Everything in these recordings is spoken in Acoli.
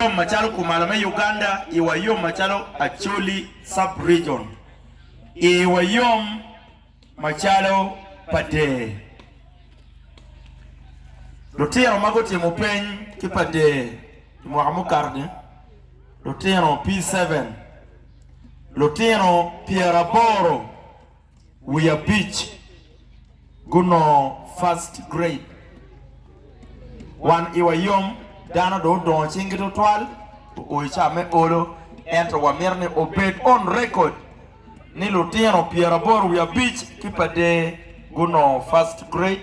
yom macalo kumalo me Uganda i wa yom macalo Acholi sub region i wa yom macalo pa dee. Lutino ma gutimo peny ki pa dee i mwaka mukato ni lutino P-seven lutino pyeraboro. wiye abic gunongo first grade. Wan iwa yom, dano dong odongo cinggi tutwal, oo i ca me olo, ento wamito ni obed on record ni lutino pyeraboro wiye abic ki pa Dee gunongo first grade.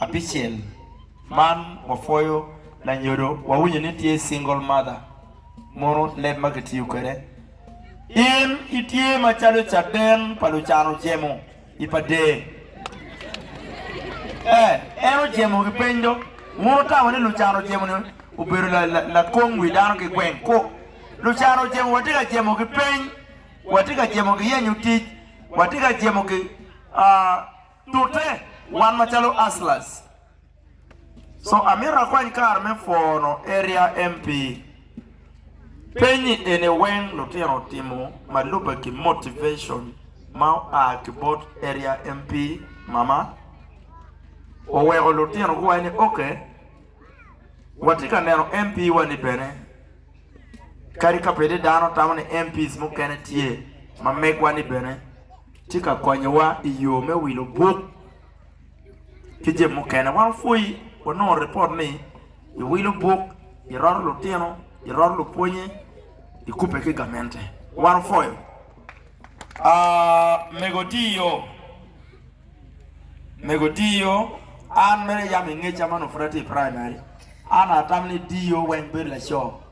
Apicel, man wapwoyo lanyodo wawinyo ni tye single mother mono leb ma kitiyo kwede. In itye macalo caden pa lucano jemo i pa dee. Ee, en ojemo ki peny do. Mono tamo ni lucano jemo ni obedo lakong wi dano ki gweng? Ku. Lucano ojemo watye ka jemo ki peny, watye ka jemo ki yenyo tic, watye ka jemo ki, aa. Tute, wan macalo Hustlers co amito akwany kare me pwono Area MP. Penye eni weng lutino otimo ma lubbe ki motivation ma oa ki bot Area MP mama oweko lutino guwaco ni ok watye ka neno MP wa ni bene kadi ka pede dano tamo ni MPs mukene tye ma megwa ni bene. tye ka konyowa i yo me wilo buk ki jami mukene. Wan wapwoyi, wanongo ripot ni iwilo buk, iroto lutino, iroto lupwonnye, ikubbe ki gamente. Wan wapwoyo. Aa, mego ti yo. Mego ti yo. An mere yam ingeca man opud atye i praimari. An atamo ni di yo weng bedo laco.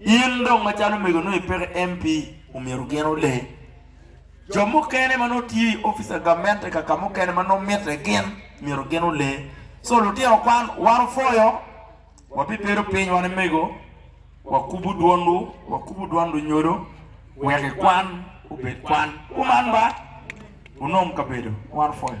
In dong macalo omego nongo ipeke MP omyero gin ole. Jo mukene ma nongo tye i office of gamente kaka mukene ma nongo mitte gin myero gin ole. So lutino kwan wan opwoyo wabibedo piny wan omego wakubu dwonwu wakubu dwan lunyodo wek i kwan obed kwan kuman ba wunom kabedo wan opwoyo.